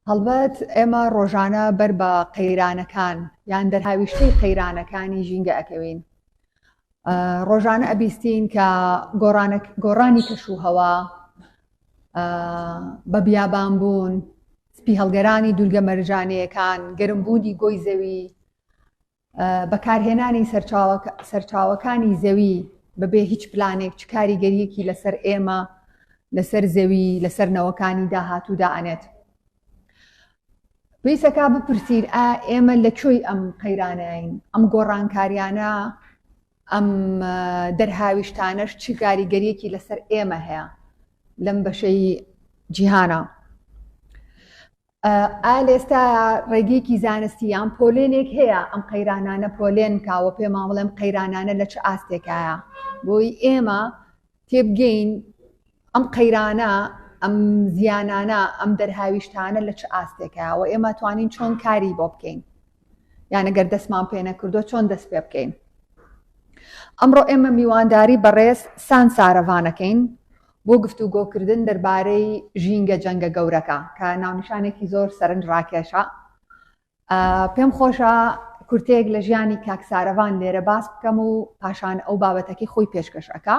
هەڵبەت ئێمە ڕۆژانە بەر بە قەیرانەکان یان دەرهاویشتەی قەیرانەکانی ژینگە ئەکەوین ڕۆژانە ئەبیستین کە گۆڕانی کەش و هەوا بە بیابان بوون سپی هەڵگەرانی دوورگە مەرجانەیەکان گەرمبوونی گۆی زەوی بەکارهێنانی سەرچاوەکانی زەوی بەبێ هیچ پلانێک چ کاریگەریەکی لەسەر ئێمە لەسەر زەوی لەسەر نەوەکانی داهاتوودا ئەنێت پێیسەکە بپرسین ئا ئێمە لە کوێی ئەم قەیرانەین ئەم گۆڕانکاریانە ئەم دەرهاویشتانەش چی کاریگەریەکی لەسەر ئێمە هەیە لەم بەشەی جیهانە ئالێستا ڕێگەیەکی زانستی یان پۆلێنێک هەیە ئەم قەیرانانە پۆلێن کاوە پێمان بڵێم قەیرانانە لە چ ئاستێکایە بۆی ئێمە تێبگەین ئەم قەیرانە، ئەم زیانانە، ئەم دەرهاویشتانە لە چ ئاستێکە و ئێمە توانین چۆن کاری بۆ بکەین یانە گەر دەستمان پێ نەکردو چۆن دەست پێ بکەین. ئەمڕۆ ئێمە میوانداری بەڕێز سان سارەڤانەکەین بۆ گفتوگۆکردن دەربارەی ژینگە جەنگە گەورەکە کە ناونیشانێکی زۆر سەرنج ڕاکێشە پێم خۆشە کورتەیەک لە ژیانی کاک سارەڤان لێرە باس بکەم و پاشان ئەو بابەتەکەی خۆی پێشکەش ئەکا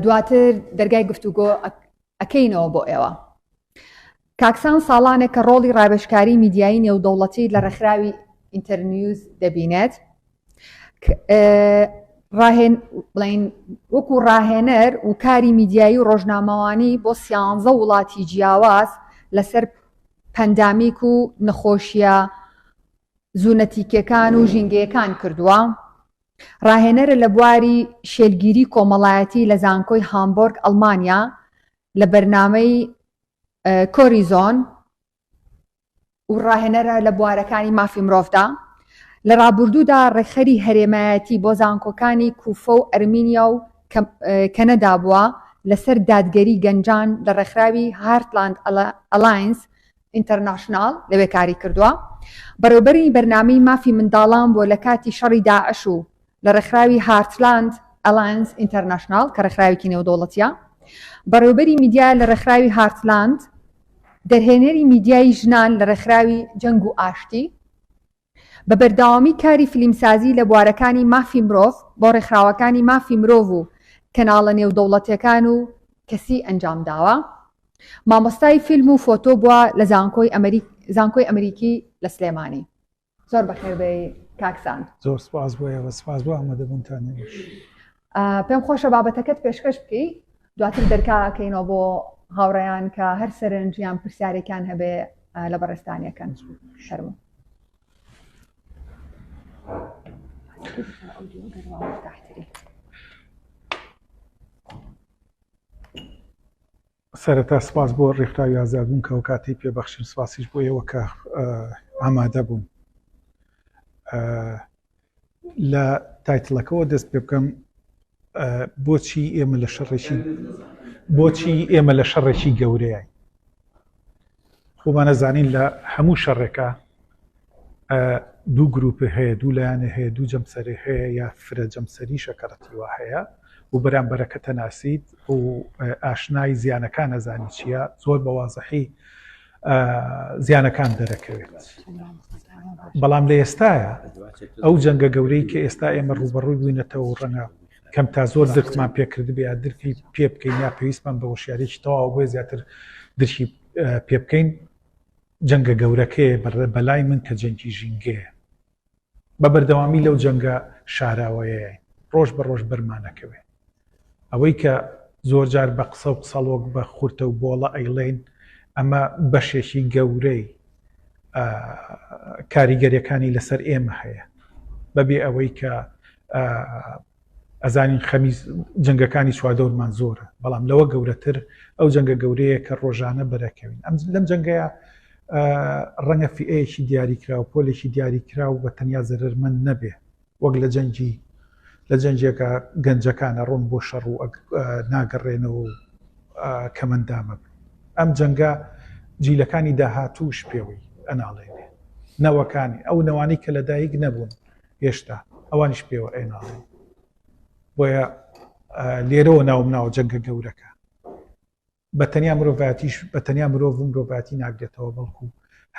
دواتر دەرگای گفتوگۆ ئەکەینەوە بۆ ئێوە کاکسان ساڵانێک کە ڕۆڵی ڕابشکاری میدیایی نێودەوڵەتی لە ڕێکخراوی ئینتەرنیوز دەبینێت ڕاهێن بڵین وەکو ڕاهێنەر و کاری میدیایی و ڕۆژنامەوانی بۆ سیانزە وڵاتی جیاواز لەسەر پەندامیک و نەخۆشیە زوونەتیکەکان و ژینگەیەکان کردووە ڕاهێنەرە لە بواری شێلگیری کۆمەڵایەتی لە زانکۆی هامبۆرگ ئەلمانیا لە بەرنمەی کۆریزۆن و ڕاهێنەرە لە بوارەکانی مافی مرۆڤدا، لە ڕابوردوودا ڕێکخەری هەرێمایەتی بۆ زانکۆکانی کوفە و ئەرمینیا و کەنەدا بووە لەسەر دادگەری گەنجان لە ڕێکخراوی هارتلاند ئەلاینس ئینتەرناشناڵ لەوێ کاری کردووە بەڕێوبەری بەرنامەی مافی منداڵان بووە لە کاتی شەڕی داعش و لە ڕێکخراوی هارتلاند ئەلاینس ئینتەرناشناڵ کە ڕێکخراوێکی نێودەوڵەتیە بەڕێوبەری میدیا لە ڕێکخراوی هارتلاند دەرهێنەری میدیایی ژنان لە ڕێکخراوی جەنگ و ئاشتی بە بەرداوامی کاری فلیمسازی لە بوارەکانی مافی مرۆڤ بۆ ڕێکخراوەکانی مافی مرۆڤ و کەناڵە نێودەوڵەتەکان و کەسی ئەنجام داوە مامۆستای فیلم و فۆتۆ بووە لە زانکۆی ئەمریک زانکۆی ئەمریکی لە سلێمانی زۆر بەخێر بێی کاک سام. زۆر سپاس بۆ ئێوە، سپاس بۆ ئامادەبوونتان ئێوەش. ئا، پێم خۆشە بابەتەکەت پێشکەش بکەی، دواتر دەرکا ئەکەینەوە بۆ هاوڕێیان کە هەر سەرنج یان پرسیارێکیان هەبێ ئا، لە بەڕێزتانیەکەن. فەرموو. سەرەتا سپاس بۆ ڕێکخراوی ئازادبوون کە ئەوکاتەی پێبەخشیم سپاسیش بۆ ئێوە کە ئامادە بوون لە تایتلەکەەوە دەست پێ بکەم بۆچی ئێمە لە شەڕێکی بۆچی ئێمە لە شەڕێکی گەورەیە خۆمان ئەزانین لە هەموو شەڕێکا دوو گروپی هەیە دوو لایەنێ هەیە دوو جەمسەرێ هەیە یا فرە جەمسەری شەکەڕەتیوا هەیە و بەرامبەرەکە تەناسیت و ئاشنای زیانەکان ئەزانی چییە زۆر بەوازەحی زیانەکان دەرەکەوێت بەڵام لە ئێستاە ئەو جەنگە گەورەی کە ئێستا ئێمە ڕوبەڕووی بووینەتەوە ڕەنگە کەم تا زۆر درکمان پێ کردبێ درکی پێ بکەین یا پێویستمان بە وشیارێکی تەواو بۆیە زیاتر درکی پێ بکەین جەنگە گەورەکەیە بەڕێ بەلای من کە جەنگی ژینگەیە بە بەردەوامی لەو جەنگە شاراوەیە ڕۆژ بە ڕۆژ بەرمانەکەوێ ئەوەی کە زۆر جار بە قسە و قسەڵۆک بە خورتە و بۆڵە ئەیڵین ئەمە بەشێکی گەورەی کاریگەریەکانی لەسەر ئێمە هەیە بەبێ ئەوەی کە ئەزانین خەمی جنگەکانی چواردەورمان زۆرە بەڵام لەوە گەورەتر ئەو جنگە گەورەیە کە ڕۆژانە بەرەکەوین ئەم لەم جنگەیە ڕەنگە فئەیەکی دیاریکراوە پۆلێکی دیاریکراو بە تەنیا زەرمەند نەبێ وەک لە جەنگی لە جەنگێکە گەنجەکانە ڕۆن بۆ شەڕ و ناگەڕێنەوە و کەمەندامە بن ئەم جەنگە جیلەکانی داهاتووش پێوەی ئەناڵێنێ نەوەکانی ئەو نەوانی کە لە دایک نەبوون هێشتا ئەوانیش پێوە ئەناڵێن بۆیە لێرەوە ناوم ناوە جەنگە گەورەکە بە تەنیا مرۆڤاتیش بە تەنیا مرۆڤ و مرۆڤاتی ناگرێتەوە بەڵکو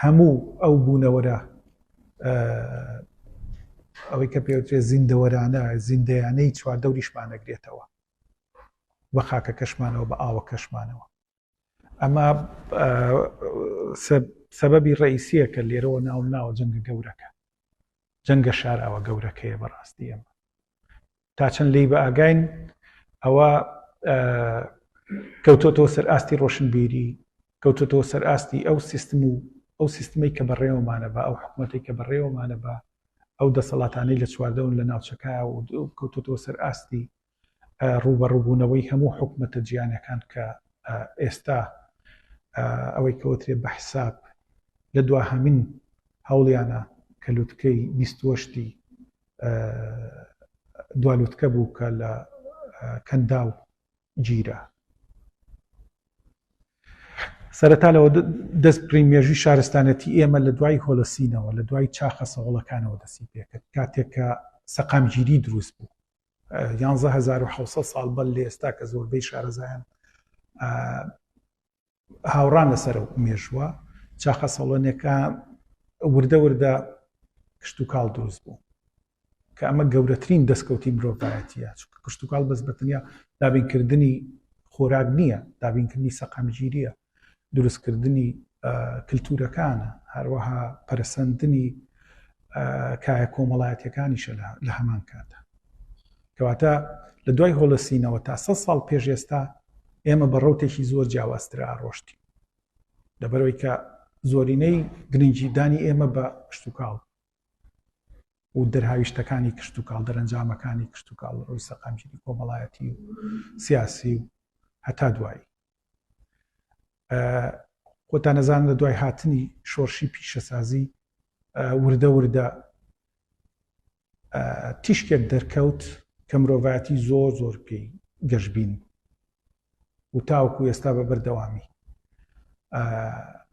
هەموو ئەو بوونەوەرە ئەوەی کە پێوترێ زیندەوەرانە زیندەیانەی چوار دەوریشمانەگرێتەوە بە خاکە کەشمانەوە بە ئاوە کەشمانەوە ئەمە سەبەبی ڕئیسیە کە لێرەوە ناو ناوە جەنگە گەورەکە جەنگە شاراوە گەورەکەیە بەڕاستی ئەمە تا چەند لێی بە ئاگاین ئەوە کەوتۆتەوە سەر ئاستی ڕۆشنبیری کەوتۆتەوە سەر ئاستی ئەو سیستم و ئەو سیستمی کە بەڕێوەمانە بە ئەو حکوومەتی کە بەڕێوەمانە بە ئەو دەسەڵاتانەی لە چواردەون لە ناوچەکە و کەوتۆتەوە سەر ئاستی ڕوبەڕوبوونەوەی هەموو حکوومەتە جیانەکان کە ئێستا ئەوەی کەوترێ بە حساب لە دواهمین هەوڵیانە کە لوتکەی بیستوەشتی دوالوتکە بوو کە لە کەنداو گیرا سەرەتا لەوە دەست پری مێژوی شارستانەتی ئێمە لە دوای هۆلسینەوە لە دوای چاخە سەوڵەکانەوە دەسی پێکرد کاتێکە سەقامگیری دروست بوو 1970 ساڵ بەر لە ئێستا کە زۆربەی شارەزایان هاوڕان لەسەر ئەو مێژووە چاخە سەڵۆنێکە وردە وردە کشتتوکاڵ دروست بوو کە ئەمە گەورەترین دەستکەوتی مرۆڤایەتیە چونکە کشتتوکاڵ بەس بەتەنیا دابینکردنی خۆراک نییە دابینکردنی سەقامگیریە دروستکردنی کللتورەکانە هەروەها پەرسەندنی کایە کۆمەڵایەتیەکانیشە لە هەمان کاتدا کەواتە لە دوای هۆلسینەوە تا سە ساڵ پێش ئێستا ئێمە بە ڕوتێکی زۆر جیاوازترە ئاڕۆشتی لەبەرەوەی کە زۆرینەی گرنگجیدانی ئێمە بە کشتتوکاڵ و دەرهاویشتەکانی کشتتوکاڵ دەرەنجامەکانی کشتتوکاڵ ڕووی سەقامگیری کۆمەڵایەتی و سیاسی و هەتا دوایی خۆتان نەزان لە دوای هاتنی شۆرشی پیشەسازی وردە وردە تیشکێک دەرکەوت کە مرۆڤایەتی زۆر زۆر پێی گەشببین و تاوکو ئێستا بە بەردەوامی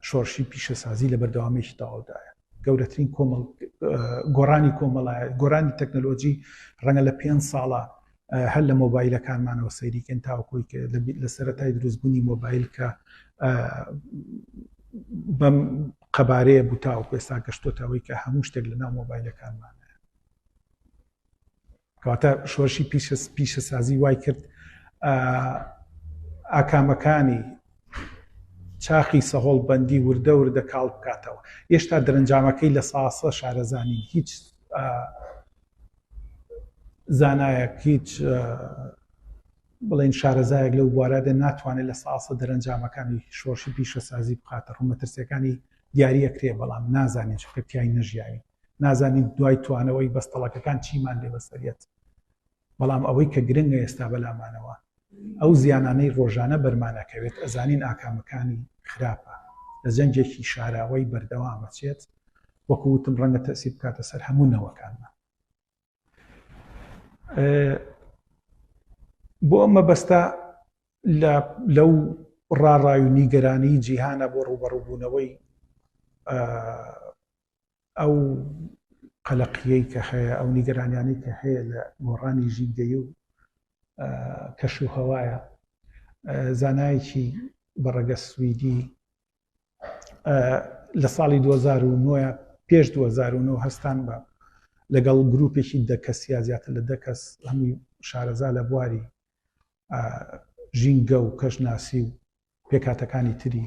شۆرشی پیشەسازی لە بەردەوامێکی تەواودایە گەورەترین کۆمەڵ گۆڕانی کۆمەڵایە گۆرانی تەکنەلۆجی ڕەنگە لە پێنج ساڵە هەر لە مۆبایلەکانمانەوە سەیری کەن تاوەکۆی کە لە سەرەتای دروستبوونی مۆبایل کە بەم قەبارەیە بوو تاوەکو ئێستا گەشتۆتەوەی کە هەموو شتێک لە ناو مۆبایلەکانمان کەواتە شۆرشی پیشە سازی وای کرد ئاکامەکانی چاخی سەهۆڵ بەندی وردە وردە کاڵ بکاتەوە هێشتا دەرەنجامەکەی لە ساسە شارەزانی هیچ زانایەک هیچ بڵێن شارەزایەک لەو بوارەدا ناتوانێت لە ساسە دەرەنجامەکانی شۆرشی پیشەسازی بخاتە ڕوو مەترسیەکانی دیارە کرێ بەڵام نازانین چکە تای نەژیاوی نازانین دوای توانەوەی بەستەڵەکەکان چیمان لێ بەسەرەت بەڵام ئەوەی کە گرنگە ئێستا بەلامانەوە ئەو زیانانەی ڕۆژانە بەرمان ئەکەوێت ئەزانین ئاکامەکانی خراپە لە جەنگێکی شاراوەی بەردەوام ئەچێت وەکو وتم ڕەنگە تەئسیر بکاتە سەر هەموو نەوەکانمان بۆ ئەم مەبەستە لەو ڕاڕای و نیگەرانی جیهانە بۆ ڕوبەڕوبوونەوەی ئەو قەلەقیەی کە هەیە، ئەو نیگەرانیانەی کە هەیە لە گۆڕانی ژینگەیی و کەش و هەوایە. زانایەکی بەڕەگەز سویدی لە ساڵی دوو هەزار و نۆ یا پێش دوو هەزار و نۆ هەستان بە لەگەڵ گروپێکی دە کەس یا زیاتر لە دە کەس هەمووی شارەزا لە بواری ژینگە و کەشناسی و پێکهاتەکانی تری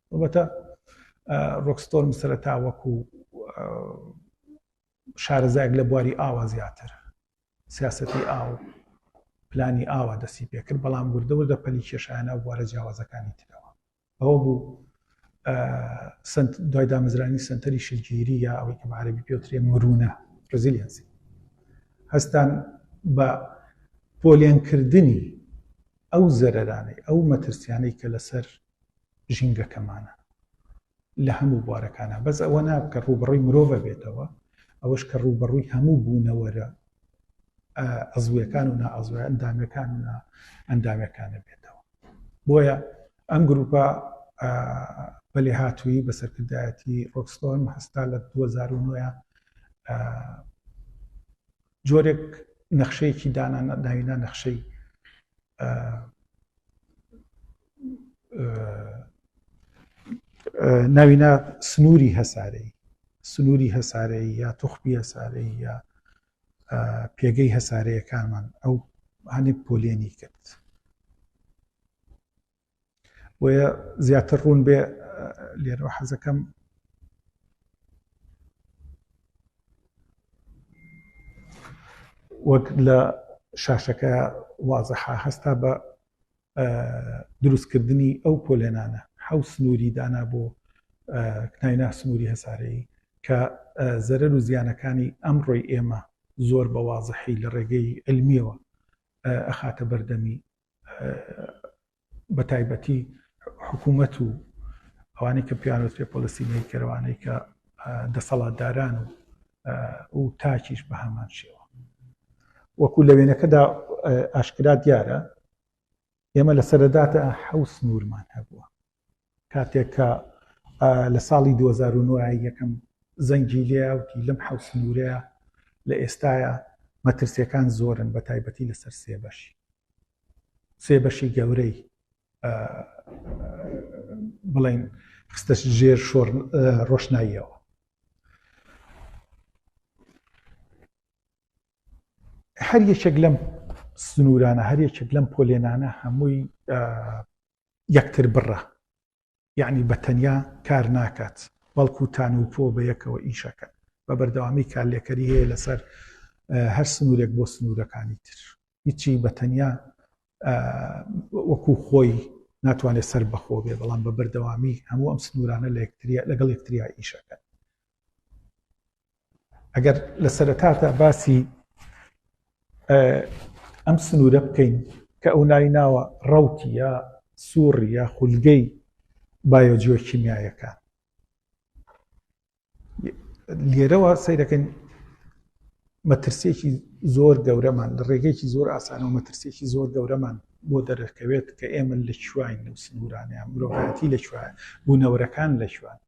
ئەڵبەتە ڕۆکستۆرم سەرەتا وەکو شارەزایەک لە بواری ئاوا زیاتر سیاستی ئاو پلانی ئاوا دەستی پێکرد بەڵام وردەوردە پەلی کێشانە بوارە جیاوازەکانی ترەوە ئەوە بوو دوای دامەزرانی سنتەری شگیری یا ئەوەی کە عربی پێوترێ مرونە ڕزیلسی هەستان بە پۆلێنکردنی ئەو زەرەرانەی ئەو مەترسیانەی کە لەسەر ژینگەکەمانە لە هەموو بوارەکانە بەس ئەوە نا کە ڕووبڕی مرۆڤە بێتەوە ئەوەش کە ڕووبەڕووی هەموو بوونەوەرە ئەزویەکان و نائەزوە ئەندامەکان و ئەندامەکانە بێتەوە بۆیە ئەم گروپە بەلێ هاتووی بە سەرکردایەتی ڕۆکستۆرم هەستا لە 2009 جۆرێک نەخشەیەکی دانا ناوینا نەخشەی ناوینا سنووری هەسارەی سنووری هەسارەی یا توخبی هەسارەی یا پێگەی هەسارەیەکانمان ئەو هەندێک پۆلێنی کرد بۆیە زیاتر ڕوون بێ لێرەوە حەزەکەم وەک لە شاشەکە وازەحا هەستا بە دروستکردنی ئەو پۆلێنانە حەو سنووری دانا بۆ کناینا سنووری هەسارەیی کە زەرەر و زیانەکانی ئەم ڕۆی ئێمە زۆر بە وازەحی لە ڕێگەی علمیەوە ئەخاتە بەردەمی بە تایبەتی حکوومەت و ئەوانەی کە پیانوت پێ پۆلیسی نەیکەرەوانەی کە دەسەڵاتداران و و تاکیش بە هەمان شێوە وەکو لە وێنەکەدا ئاشکرا دیارە ئێمە لە سەرەداتە حەوس نورمان هەبووە کاتێک کە لە ساڵی دوو هەزار و نۆ یەکەم زەنگی لێیا وتی لەم حەوت سنوورەیە لە ئێستایا مەترسیەکان زۆرن بە تایبەتی لەسەر سێ بەشی سێ بەشی گەورەی بڵین خستە ژێر شۆر ڕۆشناییەوە هەر یەکێک لەم سنوورانە هەر یەکێک لەم پۆلێنانە هەمووی یەکتر بڕە یەعنی بە تەنیا کار ناکات بەڵکو تان و پۆ بەیەکەوە ئیشەکەن بە بەردەوامی کارلێکەری هەیە لەسەر هەر سنورێک بۆ سنورەکانی تر هیچی بە تەنیا وەکو خۆی ناتوانێت سەر بەخۆ بێ بەڵام بە بەردەوامی هەموو ئەم سنورانە لە یەکتریا لەگەڵ یەکتریا ئیشەکەن ئەگەر لە سەرەتاتا باسی ئەم سنوورە بکەین کە ئەو ناوی ناوە ڕوتی یا سووڕی یا خولگەی بایۆجیۆ کیمیایەکە لێرەوە سیرەکەن مەترسێکی زۆر گەورەمان لە ڕێگەیەکی زۆر ئاسانەوە مەترسێکی زۆر گەورەمان بۆ دەرەکەوێت کە ئێمە لە چوین لەو سنوورانەیە مرۆڤەتی لە چوە بوونەوەرەکان لە چوان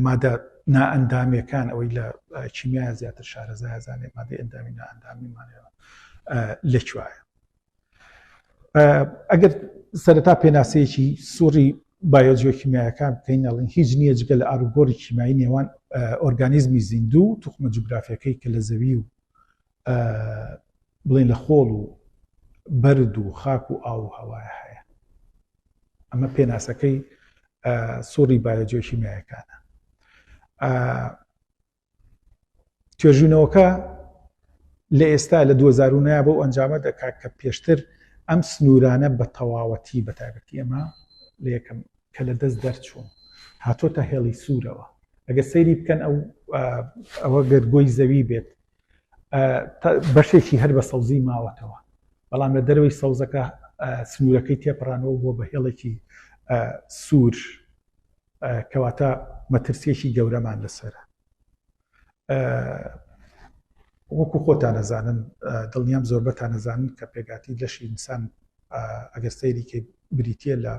مادە نائەندامیەکان ئەوەی لە چیمیا زیاتر شارەزای زانێت مادەی ئەندامی نائەندامی مانەوە لە کوایە ئەگەر سەرەتا پێناسەیەکی سوڕی بایۆجیۆکیمیایەکان بکەین ئەڵین هیچ نییە جگە لە ئاروگۆری کیمایی نێوان ئۆرگانیزمی زیندوو توخمە جوگرافیەکەی کە لە زەوی و ئە بڵێن لە خۆڵ و بەرد و خاک و ئاو و هەوایە هەیە ئەمە پێناسەکەی سوڕی بایۆجیۆشیمیایەکانە توێژینەوەکە لە ئێستا لە 2009 بۆ ئەنجامە دەکات کە پێشتر ئەم سنوورانە بە تەواوەتی بە تایبەتی ئەمە لە یەکەم کە لە دەست دەرچوون هاتۆتە هێڵی سوورەوە ئەگە سەیری بکەن ئەو ئەوە گەرگۆی زەوی بێت بەشێکی هەر بە سەوزی ماوەتەوە، بەڵام لە دەرەوەی سەوزەکە سنوورەکەی تێپەڕانەوە بووە بە هێڵێکی سوور، کەواتە مەترسیەکی گەورەمان لەسەرە. وەکو خۆتان نەزانن دڵنیام زۆربەتان نەزانن کە پێگاتی لەشی ئینسان ئەگەر سەیریکەی بریتە لە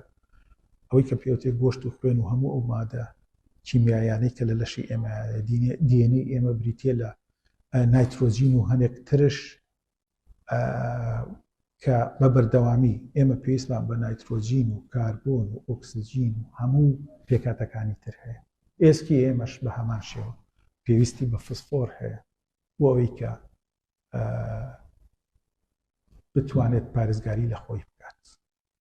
ئەوەی کە پێوتێ گۆشت و خوێن و هەموو ئەو مادە کیمیایانەی کە لە لەشی ئێمەیانە، دی ئێن ئەی ئێمە بریتییە لە نایترۆجین و هەنێک ترش کە بە بەردەوامی ئێمە پێویستمان بە نایترۆجین و کاربۆن و ئۆکسسیجین و هەموو پێکاتەکانی تر هەیە ئێسکی ئێمەش بە هەمان شێوە پێویستی بە فسفۆر هەیە بۆ ئەوەی کە بتوانێت پارێزگاری لە خۆی بکات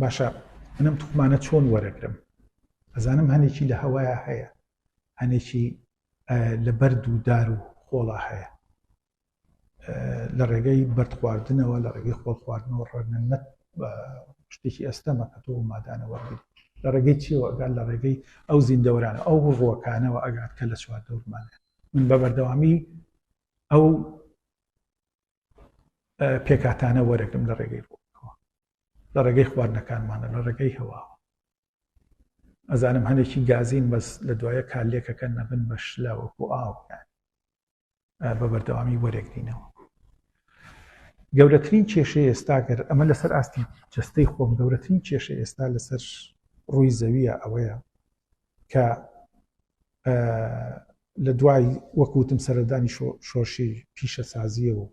باشە منم توخمانە چۆن وەرەگرم ئەزانم هەنێکی لە هەوایە هەیە هەنێکی لە بەرد و دار و خۆڵا هەیە لە ڕێگەی بەرد خواردنەوە لە ڕێگەی خۆڵ خواردنەوە ڕەنە نەت شتێکی ئەستەمە کە تۆ مادانەوە لە ڕێگەی چیەوە ئەگەر لە ڕێگەی ئەو زیندەوەرانە ئەو ڕۆکانەوە ئەگات کە لە چوار دەورمانە من بە بەردەوامی ئەو پێکاتانە وەرەگرم لە ڕێگەی ڕووەوە لە ڕێگەی خواردنەکانمانە لە ڕێگەی هەواوە ئەزانم هەنێکی گازین بەس لە دوایە کالێکەکە نەبن بە شلاوەکو ئاو بە بەردەوامی وەرەگرینەوە گەورەترین کێشە ئێستاگەر ئەمە لەسەر ئاستی جستەی خۆم گەورەترین کێشە ئێستا لەسەر ڕووی زەویە ئەوەیە کە لە دوای وەکوتم سەردانی شۆشی پیشەسازیە و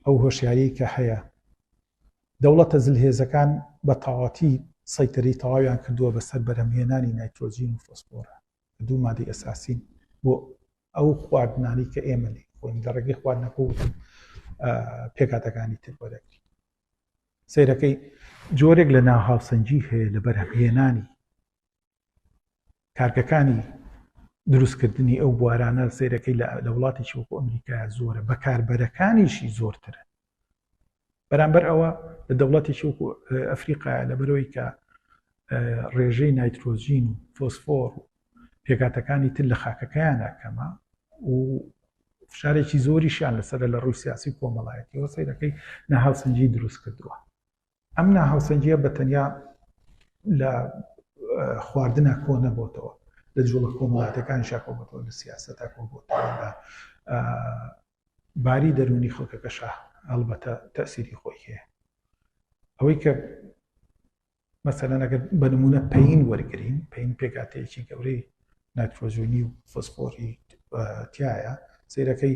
ئەو هۆشیاری کە هەیە دەوڵەتە زلهێزەکان بە تەواتی سەیتەری تەواویان کردووە بەسەر بەرهەمهێنانی نایترۆجین و فۆسفۆرە دوو مادەی ئەساسین بۆ ئەو خواردنانی کە ئێمە لێ خۆین لە ڕێگەی خواردنەکە و پێکاتەکانی تر بەدەگری سیرەکەی جۆرێک لە ناهاوسەنگی هەیە لە بەرهەمهێنانی کارگەکانی دروستکردنی ئەو بوارانە سیرەکەی لە وڵاتێکی وەکو ئەمریکا زۆرە بەکاربەرەکانیشی زۆرترە بەرامبەر ئەوە لە دەوڵەتێکی وەکو ئەفریقا لە بەرەوەی کە ڕێژەی نایترۆزین و فۆسفۆر و پێکاتەکانی تر لە خاکەکەیانە کەمە و فشارێکی زۆریشیان لەسەر لە ڕووی سیاسی کۆمەڵایەتیەوە سیرەکەی نەهاوسنجی دروست کردووە ئەم ناهاوسەنگییە بە تەنیا لە خواردنا کۆ نەبۆتەوە لە جوڵە کۆمەڵاتەکان شاکۆبەتەوە لە سیاستە کۆبتەوە لە باری دەرونی خەڵکەکە شا هەڵبەتە تەسیری خۆی هەیە ئەوەی کە مەسەلەنەگە بە نمونە پین وەرگین پین پێکاتەیەکی گەورەی نایترۆجینی و فۆسفۆری تایە سیرەکەی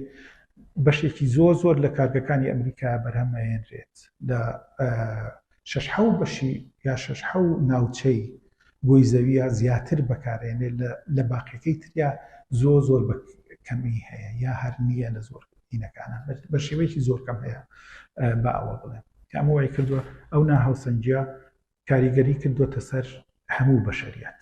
بەشێکی زۆر زۆر لە کارگەکانی ئەمریکا بەرهەمەهێنرێت لە شش حو بەشی یا شش حو ناوچەی بۆی زەویە زیاتر بەکارێنێت لە باقیەکەی تریا زۆ زۆر بە کەمی هەیە یا هەر نییە لە زۆر دینەکانە بە شێوەیەکی زۆر کەم هەیە بە ئەوە بڵێن ئەمە وای کردووە ئەو ناهاوسەنجە کاریگەری کردوتە سەر هەموو بەشریات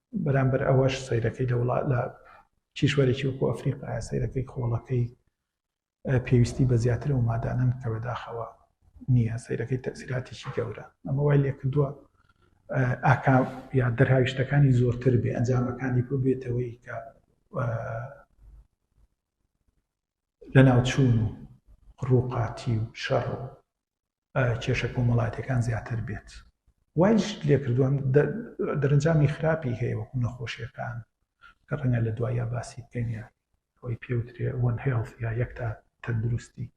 بەرامبەر ئەوەش سەیرەکەی لە وڵات لە کیشوەرێکی وەکو ئەفریقا سەیرەکەی خۆڵەکەی پێویستی بە زیاتر و مادانن کە بەداخەوە نییە سەیرەکەی تەسیراتیی گەورە ئەمە وای لێ کردووە ئاکا یا دەرهاویشتەکانی زۆرتر بێ ئەنجامەکانی بۆ بێتەوەی کە لە ناوچوون و ڕووقاتی و شەڕ و کێشە کۆمەڵاتیەکان زیاتر بێت وایش لێکردووان دەرنجامی خراپی هەیە وەکو نەخۆشیەکان کە ڕەنگە لە دوایە باسی بکەین ئەوەی پێوترێ وەن هێڵ یا یەک تا تەندروستی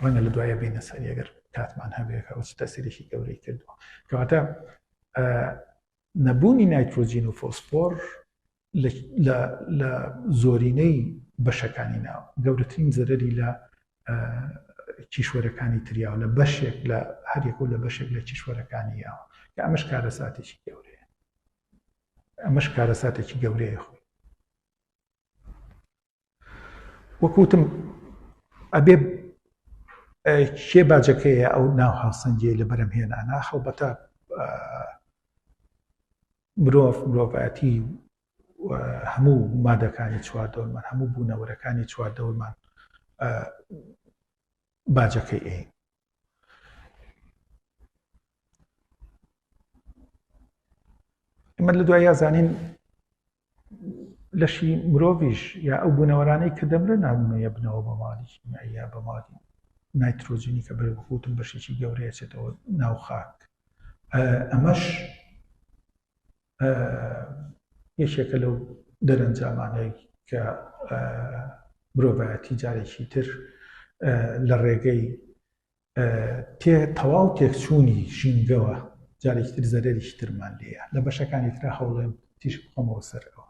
ڕەنگە لە دوایە بینە سەر ئەگەر کاتمان هەبێکە ئەو تەسیرێکی گەورەی کردووە کەواتە نەبوونی نایترۆجین و فۆسفۆر لە لە زۆرینەی بەشەکانی ناوە گەورەترین زەرەری لە کیشوەرەکانی تریاوە لە بەشێک لە هەرێک و لە بەشێک لە کیشوەرەکانی یاوە کە ئەمەش کارە ساتێکی گەورەیە ئەمەش کارە ساتێکی گەورەیە خۆی وەکوتم ئەبێ کێ باجەکەیە ئەو ناو هاوسەنگی لە بەرەم هێنانە خەڵبەتە مرۆڤ مرۆڤایەتی هەموو مادەکانی چواردەورمان هەموو بوونەوەرەکانی چواردەورمان باجەکەی ئەین ئمە لە دوای یازانین لەشی مرۆڤیش یا ئەو بوونەوەرانەی کە دەمرە نامونەیە بنەوە بە ماڵی یا بە ماڵی نایترۆجینی کە بەێ بخوتم بەشێکی گەورەیەچێتەوە ناو خاک ئەمەش یەکێکە لەو دەرەنجامانەی کە مرۆڤایەتی جارێکی تر لە ڕێگەی تەواو تێکچوونی ژینگەوە جارێکی تر زەرەریشی ترمان لێە لە بەشەکانی تررا هەوڵێن تیش بخۆمەوە سەرەوە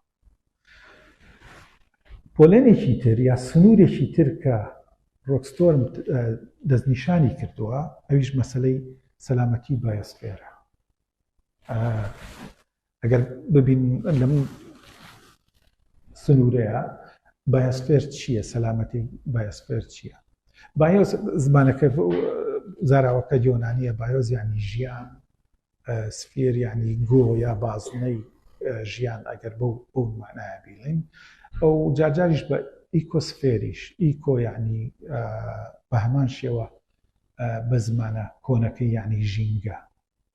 پۆلێنێکی تر یا سنوورێکی تر کە ڕۆکستۆرم دەستنیشانی کردووە ئەویش مەسلەی سەلامەتی بایسفێرە ئەگەر ببین لەم سنوورەیە بایسفێر چییە سەلامەتی بایسفێر چییە بایۆس زمانەکە زاراوەکە یۆنانیە بایۆز ینی ژیان سفێر ینی گۆ یا بازنەی ژیان ئەگەر بەو بەو مانایە بیڵین ئەو جارجاریش بە ئیکۆسفێریش ئیکۆ ینی بە هەمان شێوە بە زمانە کۆنەکەی ینی ژینگە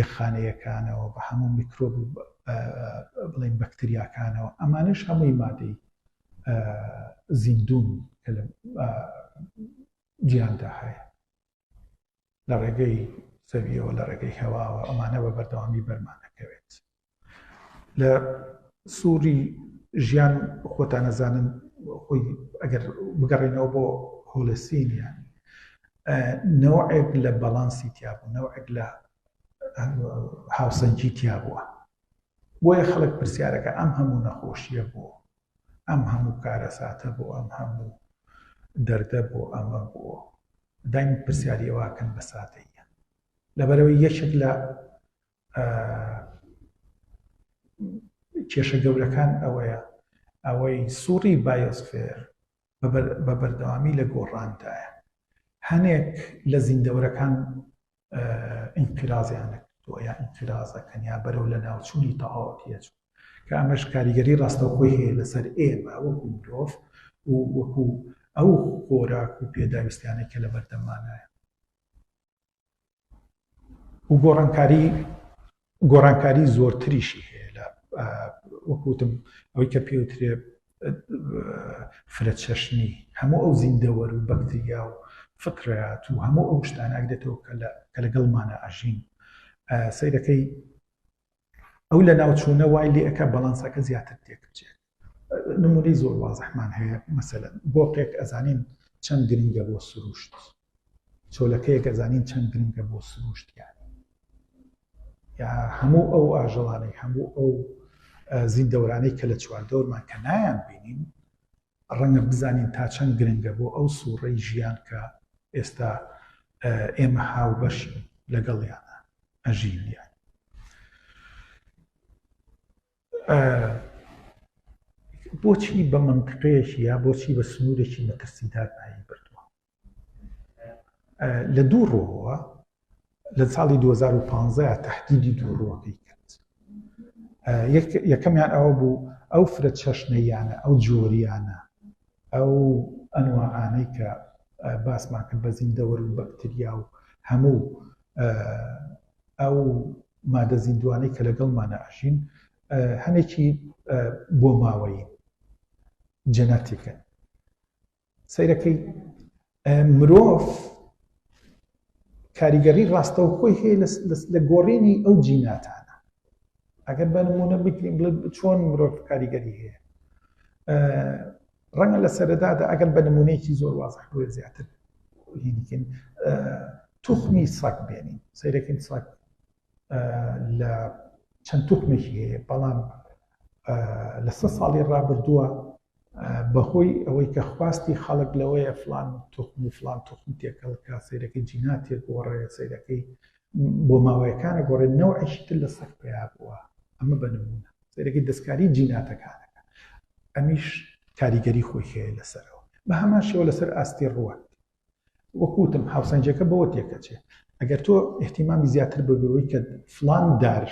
یەخانەیەکانەوە بە هەموو میکرۆب و بڵێن بەکتریاکانەوە ئەمانش هەمووی مادەی زیندون کە لە جیاندا هەیە لە ڕێگەی زەویەوە لە ڕێگەی هەواوە ئەمانە بە بەردەوامی بەرمانەکەوێت لە سووری ژیان خۆتان ئەزانن خۆی ئەگەر بگەڕێنەوە بۆ هۆلسینیان نەوەێک لە بەڵانسی تیابوو نەوەێک لە هاوسەنجی تیا بووە بۆیە خەڵک پرسیارەکە ئەم هەموو نەخۆشیە بۆ ئەم هەموو کارەساتە بۆ ئەم هەموو دەردە بۆ ئەمە بۆ دایم پرسیاریەوەکەن بە ساتەیە لەبەرەوەی یەکێک لە کێشە گەورەکان ئەوەیە ئەوەی سوڕی بایۆسفێر بە بەردەوامی لە گۆڕاندایە هەنێک لە زیندەورەکان ئینقرازیان نەکردووە یا ئینقرازەکەن یا بەرەو لە ناوچوونی تەواوەتیە چوو کە ئەمەش کاریگەری ڕاستەوخۆی هەیە لەسەر ئێمە وەکو مرۆڤ و وەکو ئەو خۆراک و پێداویستیانەی کە لە بەردەمانایە و گۆڕانکاری گۆڕانکاری زۆرتریشی هەیە لە وەکوتم ئەوەی کە پێوترێ فرەچەشنی هەموو ئەو زیندەوەر و بەکتریا و فکرات و هەموو ئەو شتاناک دێتەوە کە لەگەڵمانە ئەژین سیرەکەی ئەو لە ناوچوونە وای لێ ئەکا بەڵانسەکە زیاتر تێک بچێت نمونەی زۆر وازحمان هەیە مەسەلەن بۆقێک ئەزانین چەند گرنگە بۆ سروشت چۆلەکەیەک ئەزانین چەند گرنگە بۆ سروشت یان یا هەموو ئەو ئاژەڵانەی هەموو ئەو زیندەورانەی کە لە چواردەورمان کە نایان بینین ڕەنگە بزانین تا چەند گرنگە بۆ ئەو سووڕەی ژیان کە ئێستا ئێمە هاوبەشین لەگەڵیانە ئەژین یان بۆچی بە منتقەیەکی یا بۆچی بە سنوورێکی مەترسیدار ناوی بردووە لە دوو ڕووەوە لە ساڵی 2015 تهدیدی دوو ڕووەکەی کرد یەکەمیان ئەوە بوو ئەو فرە چەشنەیانە ئەو جۆریانە ئەو ئەنوانەی کە باسمان کرد بە زیندەوەر و بەکتریا و هەموو ئەو مادە زیندوانەی کە لەگەڵمانە ئەژین هەنێکی بۆ ماوەی جەناتیکن سەیرەکەی مرۆڤ کاریگەری ڕاستەوخۆی هەیە لە گۆڕینی ئەو جیناتانە ئەگەر بە نمونە بکرین بڵێ چۆن مرۆڤ کاریگەری هەیە ڕەنگە لە سەرەدادا ئەگەر بە نمونەیەکی زۆر وازح بێ زیاتر هینکن توخمی سەک بێنین سەیرەکەین سەک لە چەند توخمێکی هەیە بەڵام لە سە ساڵی ڕابردووە بەهۆی ئەوەی کە خواستی خەڵک لەوەیە فڵان توخم و فڵان توخم تێکەڵ بکات، سەیرەکەی جینا تێگۆڕێ، سەیرەکەی بۆ ماوەیەکان ئەگۆڕێ، نەوعێکی تر لە سەگ پەیا بووە، ئەمە بە نموونە سەیرەکەی دەستکاریی جیناتەکان ئەکا، ئەمیش کاریگەریی خۆی هەیە لەسەرەوە. بە هەمان شێوە لەسەر ئاستی ڕووەک، وەکو وتم هاوسەنگیەکە بەوە تێکەچێ ئەگەر تۆ ئیحتیمامی زیاتر بە بەوەی کە فلان دار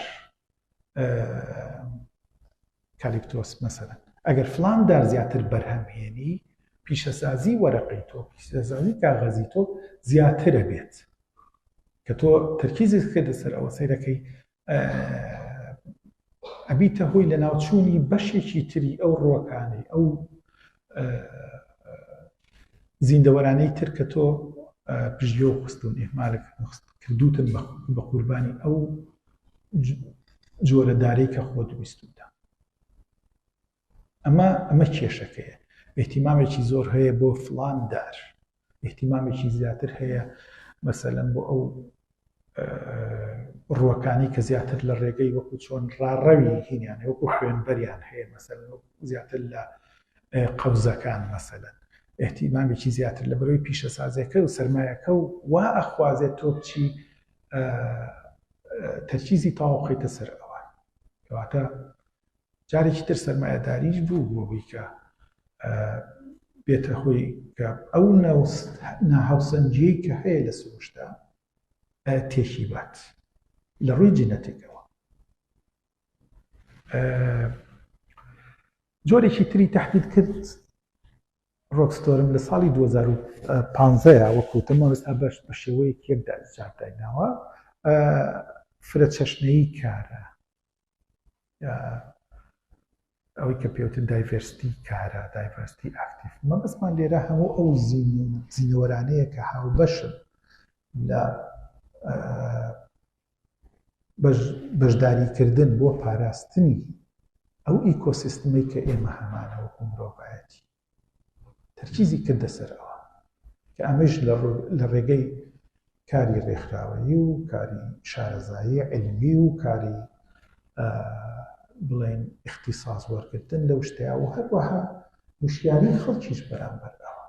کالیپتۆس مەسەرەن ئەگەر فلان دار زیاتر بەرهەمهێنی پیشەسازی وەرەقی تۆ پیشەسازی کاغەزی تۆ زیاترە بێت کە تۆ تەرکیزت کردە سەر ئەوە سەیرەکەی ئەبیتە هۆی لە ناوچوونی بەشێکی تری ئەو ڕووەکانی ئەو زیندەوەرانەی تر کە تۆ پژیۆ خستون ئێمالک کردوتن بە قوربانی ئەو جۆرە دارەی کە خۆ دویستوتە ئەمە ئەمە کێشەکەیە ئیهتیمامێکی زۆر هەیە بۆ فڵان دار ئیهتیمامێکی زیاتر هەیە مەسەلەن بۆ ئەو ڕوەکانی کە زیاتر لە ڕێگەی وەکو چۆن ڕاڕەوی هینیان وەکو خوێنبەریان هەیە مەسەل زیاتر لە قەوزەکان مەسەلەن احتیمامێکی زیاتر لە بەرەوەی پیشەسازەکە و سرمایەکە و وا ئەخوازێت تۆ بچی تەرکیزی تاوەخیتە سەر ئەوان کەواتە جارێکی تر سەرمایەداریش بوو بۆ ئەوەی کە بێتە هۆی کە ئەو ناهاوسەنگیەی کە هەیە لە سروشتە تێکی بات لە ڕووی جینەتێکەوە جۆرێکی تری تهدید کرد ڕۆکستۆرم لە ساڵی 2015 وەکوتم ئەوستا بەش بە شێوەیەک یەکدا جاردایناوە فرە چەشنەی کارە ئەوەی کە پێوتن دایڤرستی کارە دایڤرستی ئاکتیف مەبەستمان لێرە هەموو ئەو زینەوەرانەیە کە هاوبەشن لە بەشداریکردن بۆ پاراستنی ئەو ئیکۆسیستمی کە ئێمە هەمانەوە مرۆڤایەتی تەرکیزی کردە سەر ئەوە کە ئەمەیش لە ڕێگەی کاری ڕێکخراوەیی و کاری شارەزایی علمی و کاری بڵێن اختصاص وەرگتن لەو شتەیە و هەروەها وشیاری خەڵکیش بەرامبەر ئەوە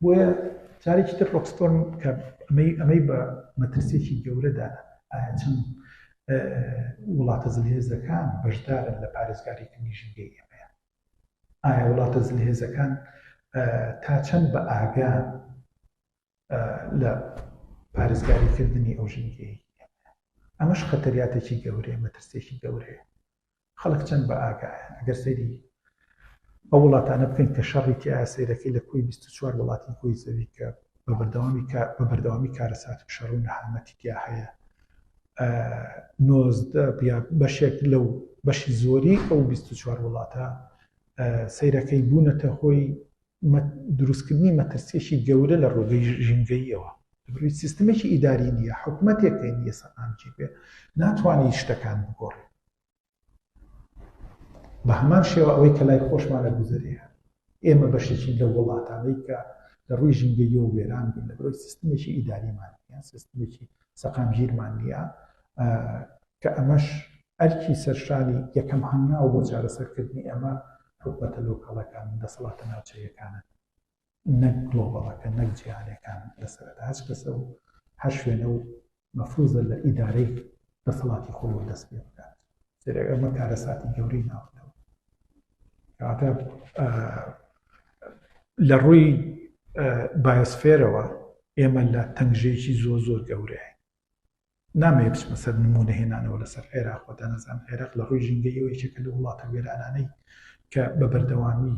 بۆیە جارێکی تر ڕۆکستۆن کە ئەمەی ئەمەی بە مەترسێکی گەورەدا ئایا چەند وڵاتە زلهێزەکان بەشدارن لە پارێزگاریکردنی ژینگەی ئێمەیە ئایا وڵاتە زلهێزەکان تا چەند بە ئاگان لە پارێزگاریکردنی ئەو ژینگەی ئەمەش خەتەریاتێکی گەورەیە مەترسێکی گەورەیە خەڵک چەند بە ئاگایە ئەگەر سەیری ئەو وڵاتانە بکەین کە شەڕی تیا سیرەکەی لە کوی 24 وڵاتی کوی زەوی کە بە بەردەوامی بە بەردەوامی کارەسات و شەڕ و نەهامەتی تیا هەیە نۆزدە یا بەشێک لەو بەشی زۆری ئەو بیست و چوار وڵاتە سەیرەکەی بوونەتە هۆی دروستکردنی مەترسیەکی گەورە لە ڕۆگەی ژینگەییەوە بروی سیستمێکی ئیداری نییە حکوومەتێک نیە سەقامگیر بێ ناتوانانی شتەکان بگۆڕێ بە هەمان شێوە ئەوەی کە لای خۆشمانە گوزەرێ هەن ئێمە بەشێکین لە وڵاتانەی کە لە ڕووی ژینگەیەوە وێران بوون لە بەرەوەی سیستمێکی ئیداریمان نیە سیستمێکی سەقامگیرمان نییە کە ئەمەش ئەرکی سەرشانی یەکەم هەنگاو بۆ چارەسەرکردنی ئەمە حکومەتە لۆکاڵەکان دەسەڵاتە ناوچەیەکانە نەک گلۆبەڵەکە نەک جیهانیەکان لە سەرەتا هەچ کەسە و هەر شوێنە و مەفروزە لە ئیدارەی دەسەڵاتی خۆی و دەست پێ بکات سەرێک ئەمە کارەساتی گەورەی ناوەوە کەواتە لە ڕووی بایۆسفێرەوە ئێمە لە تەنگژێکی زۆ زۆر گەورەیە نامەوێ بچمە سەر نموونە هێنانەوە لەسەر عێراق، وە دانەزان عێراق لە ڕووی ژینگەییەوە یەکێکە لەو وڵاتە وێرانانەی کە بە بەردەوامی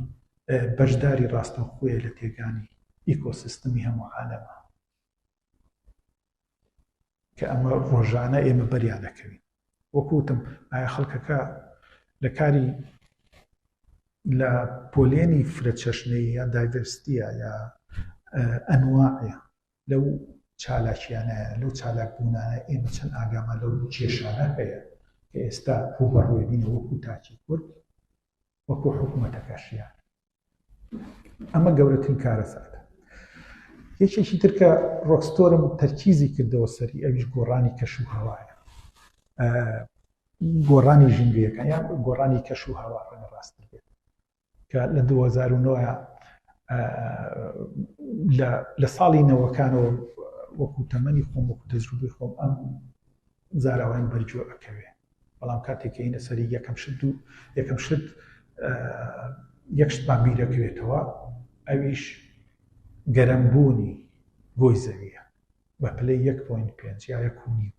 بەشداری ڕاستەوخۆیە لە تێکدانی ئیکۆسیستمی هەموو عالەمە کە ئەمە ڕۆژانە ئێمە بەریا دەکەوین وەکو وتم ئایا خەڵکەکە لە کاری لە پۆلێنی فرە چەشنەیە دایڤەرستیە یا ئەنواعە لەو چالاکیانەیە، لەو چالاک بوونانە ئێمە چەند ئاگامان لەو کێشانە هەیە کە ئێستا ڕووبەڕووی بینە وەکوو تاکی کورد وەکوو حکوومەتەکەشیان ئەمە گەورەترین کارەساتە یەکێکی تر کە ڕۆکستۆرم تەرکیزی کردەوە سەری ئەویش گۆڕانی کەش و هەوایە گۆڕانی ژینگەکان یان گۆڕانی کەش و هەوا ڕەنگە ڕاستتر بێت کە لە دوو هەزار و نۆ لە ساڵی نەوەکانەوە وەکو تەمەنی خۆم وەکو تەجروبی خۆم ئەم زاراوەم بەرجۆ ئەکەوێ بەڵام کاتێک هینە سەری یەکەم شت دوو یەکەم شت یەک شتمان بیرەکرێتەوە ئەویش گەرمبوونی گۆی زەویە بە پلەی 1.5 یا یەکونی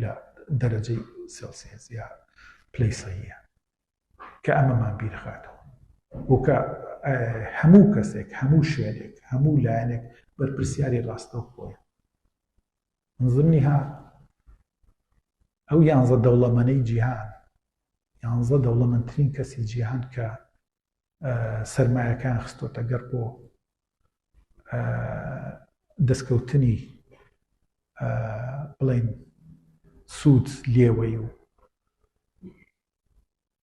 لە دەرەجەی سلسێزیا پلەی سەیە کە ئەمەمان بیرخاتەوە و کە هەموو کەسێک، هەموو شوێنێک، هەموو لایەنێک بەرپرسیاری ڕاستەوخۆیە. نزمنیها ئەو یانزە دەوڵەمەنەی جیهان، یانزە دەوڵەمەندترین کەسی جیهان کە سەرمایەکان خستۆتە گەڕ بۆ دەستکەوتنی بڵین سوود لێوەی و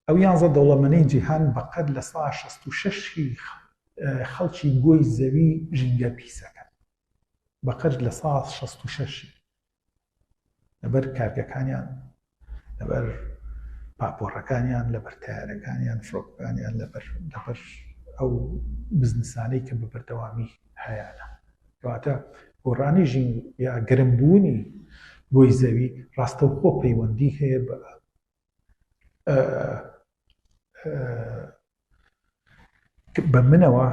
ئەو یانزە دەوڵەمەنەی جیهان بەقەد لە سەدا شەست و شەش ی خەڵکی گۆی زەوی ژینگە پیسەکەن بەقەد لە سەدا شەست و شەش ی لەبەر کارگەکانیان لەبەر پاپۆڕەکانیان لەبەر تەیارەکانیان فرۆکەکانیان لەبەر لەبەر ئەو بزنسانەی کە بە بەردەوامی هەیانە کەواتە گۆڕانی ژین یا گەرمبوونی بۆی زەوی ڕاستەوخۆ پەیوەندی هەیە بە بە منەوە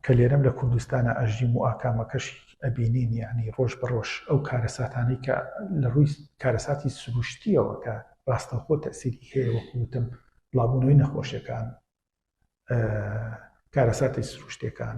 کە لێرەم لە کوردستانە ئەژیم و ئاکامەکەشی ئەبینین یعنی ڕۆژ بە ڕۆژ ئەو کارەساتانەی کە لە ڕووی کارەساتی سروشتیەوە کە ڕاستەخۆ تەسیری هەیە وەکوتم بڵاوبوونەوەی نەخۆشیەکان کارەساتی سروشتەکان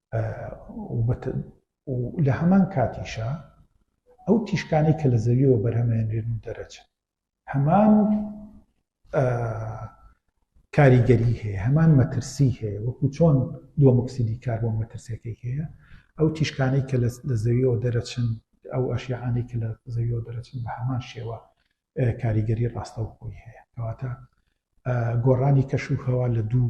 و لە هەمان کاتیشا ئەو تیشکانەی کە لە زەویەوە بەرهەمێنرێن و دەرەچن هەمان کاریگەری هەیە هەمان مەترسی هەیە وەکو چۆن دۆمەکسیدی کار بۆ مەترسەکەی هەیە ئەو تیشکانەی کە لە زەویەوە دەرەچن ئەو ئەشیعانەی کە لە زەویەوە دەرەچن بە هەمان شێوە کاریگەری ڕاستەوخۆی هەیە کەواتە گۆڕانی کەش و هەوا لە دوو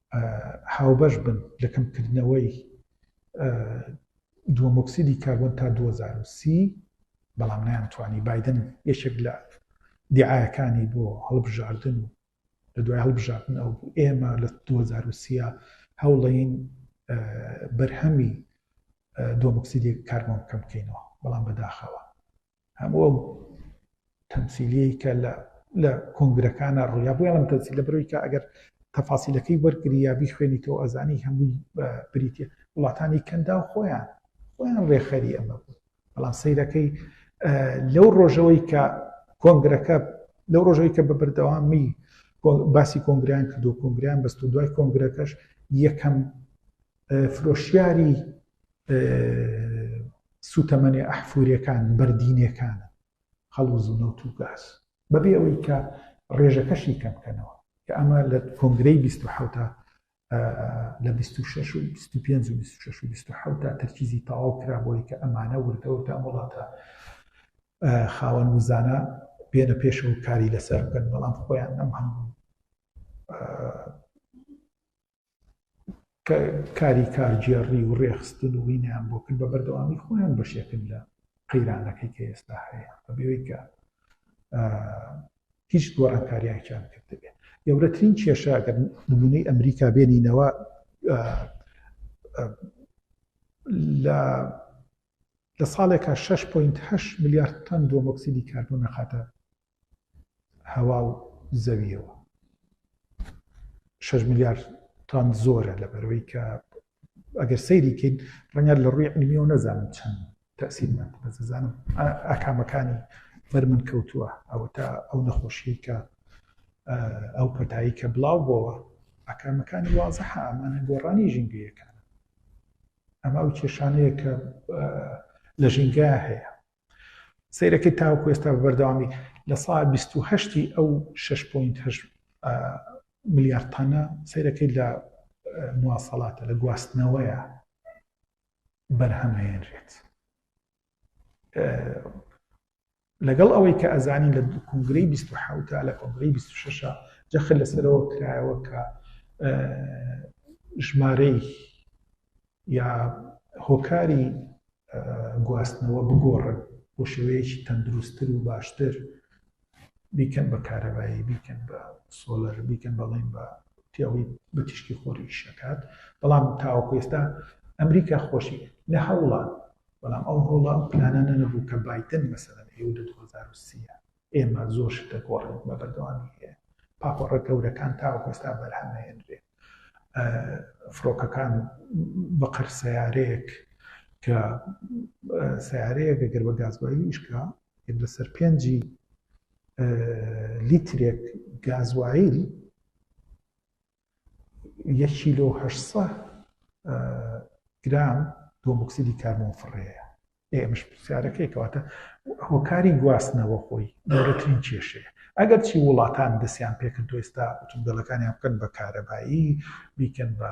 هاوبەش بن لە کەمکردنەوەی دووەمۆکسیدی کاربۆن تا دوو هەزار و سی، بەڵام نەیانتوانی، بایدن یەکێک لە دیعایەکانی بۆ هەڵبژاردن و لە دوای هەڵبژاردن ئەو بوو ئێمە لە دوو هەزار و سی هەوڵەین بەرهەمی دووەمۆکسیدی کاربۆن کەم بکەینەوە، بەڵام بەداخەوە. هەموو ئەو تەمسیلیەی کە لە لە کۆنگرەکانە ڕوویا بۆ یاڵم تەسی لە بەرەوەی کە ئەگەر تەفاسیلەکەی وەرگری یا بیخوێنی تۆ ئەزانی هەمووی بریتە وڵاتانی کەندا و خۆیان خۆیان ڕێخەری ئەمە بوو بەڵام سیرەکەی لەو ڕۆژەوەی کە کۆنگرەکە لەو ڕۆژەوەی کە بە بەردەوامی باسی کۆنگریان کردو کۆنگریان بەست و دوای کۆنگرەکەش یەکەم فرۆشیاری سوتەمەنێ ئەحفورەکان بەردینەکان خەڵوز و نەوت و گاز بەبێ ئەوەی کە ڕێژەکەشی کەمکەنەوە کە ئەمە لە کۆنگرەی 1970 لە 26 و 25 و 26 و 26 تا تەرکیزی تەواو کرا بۆی کە ئەمانە وردەوردا وڵاتە خاوەن وزانە بێنە پێشەوە کاری لەسەر بکەن بەڵام خۆیان ئەم هەموو کە کاری کارگێڕی و ڕێخستن و وینیان بۆ کرد بە بەردەوامی خۆیان بەشێکن لە قەیرانەکەی کە ئێستا هەیە بەبێوەی کە هیچ گۆڕانکارییاکیان کردبێ گەورەترین کێشە گەر نمونەی ئەمریکا بێنینەوە لە لە ساڵێکا 6.8 میلیارد تەن دۆمۆکسیدی کاربۆن نەخاتە هەوا و زەویەوە شەش ملیار تان زۆرە لە بەرەوەی کە ئەگەر سەیری کەین ڕەنگە لە ڕووی علمیەوە نەزانم چەند تەسیرمان بەزانم ئاکامەکانی بەر من کەوتووە ئەوە تا ئەو نەخۆشیی کە ئەو پەتایی کە بڵاو بۆەوە ئاکامەکانی وازە ئەمانە گۆڕانی ژینگەیەکان ئەمە ئەو کێشانەیە کە لە ژینگە هەیە سەیرەکەی تاوەکو ئێستا بە بەردەوامی لە سا بیست و هەشتی ئەو شەش پۆینت هەشت ملیار تانە سەیرەکەی لە مواسەڵاتە لە گواستنەوەیە بەرهەمهێنرێت لەگەڵ ئەوەی کە ئەزانی لە کنگرەی 1970 لە کۆنگرەی 26 جەخر لەسەرەوە کرایەوە کە ژمارەی یا هۆکاری گواستنەوە بگۆڕن بۆ شێوەیەکی تەندروستتر و باشتر بیکەن بە کارەبایی بیکەن بە سۆلەر بیکەن بەڵێن بە تیاوی بە تیشکی خۆری شەکات بەڵام تاوەکو ئێستا ئەمریکا خۆشی لە هەوڵان بەڵام ئەو هەوڵە پلانانە نەبوو کە بادن مەسەن ئێو لە 2030 ئێمە زۆر شت دەگۆڕین و بەردەوامی هەیە، پاپۆڕە گەورەکان تاوەکو ئێستا بەرهەمنەهێنرێ، فڕۆکەکان بقر سەیارەیەک کە سەیارەیەک گەر بە گازوایلی ئیش کا یەک لەسەر پێنجی لیترێک گازوایل یەک کیلۆ و هەشت سەد گرام دۆموکسیدی کاربۆن فڕێیە ئێمەش پرسیارەکەی کەواتە هۆکاری گواستنەوە خۆی گەورەترین کێشەیە ئەگەر چی وڵاتان دەستیان پێکردو ئێستا ئۆتۆمبیلەکانیان بکەن بە کارەبایی بیکەن بە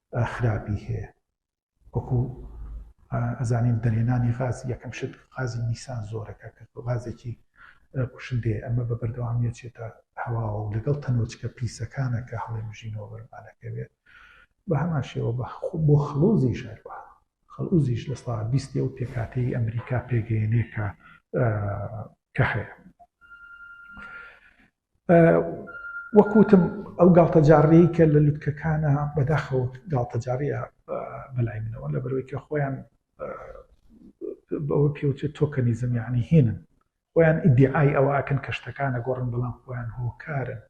خراپی هەیە وەکو ئەزانین دەرهێنانی غاز یەکەم شت غازی نیسان زۆرە کە غازێکی کوشندەیە ئەمە بە بەردەوامیە چێتە هەواوە و لەگەڵ تەنۆچکە پیسەکانە کە هەڵێ مژینەوە بەرمانەکەوێت بە هەمان شێوە بە بۆ خڵۆزی ژەروە خەڵوزیش لە سا بیستی ئەو پێکاتەی ئەمریکا پێگەیەنێ کە کە هەیە وەک وتم ئەو گاڵتەجاڕیەی کە لە لوتکەکانە بەداخەوە گاڵتەجاڕیە بەلای منەوە لە بەرەوەی کە خۆیان بەوە پێوتێت تۆکەنیزم یعنی هینن خۆیان ئیدعای ئەوە ئەکەن کە شتەکانە گۆڕن بەڵام خۆیان هۆکارن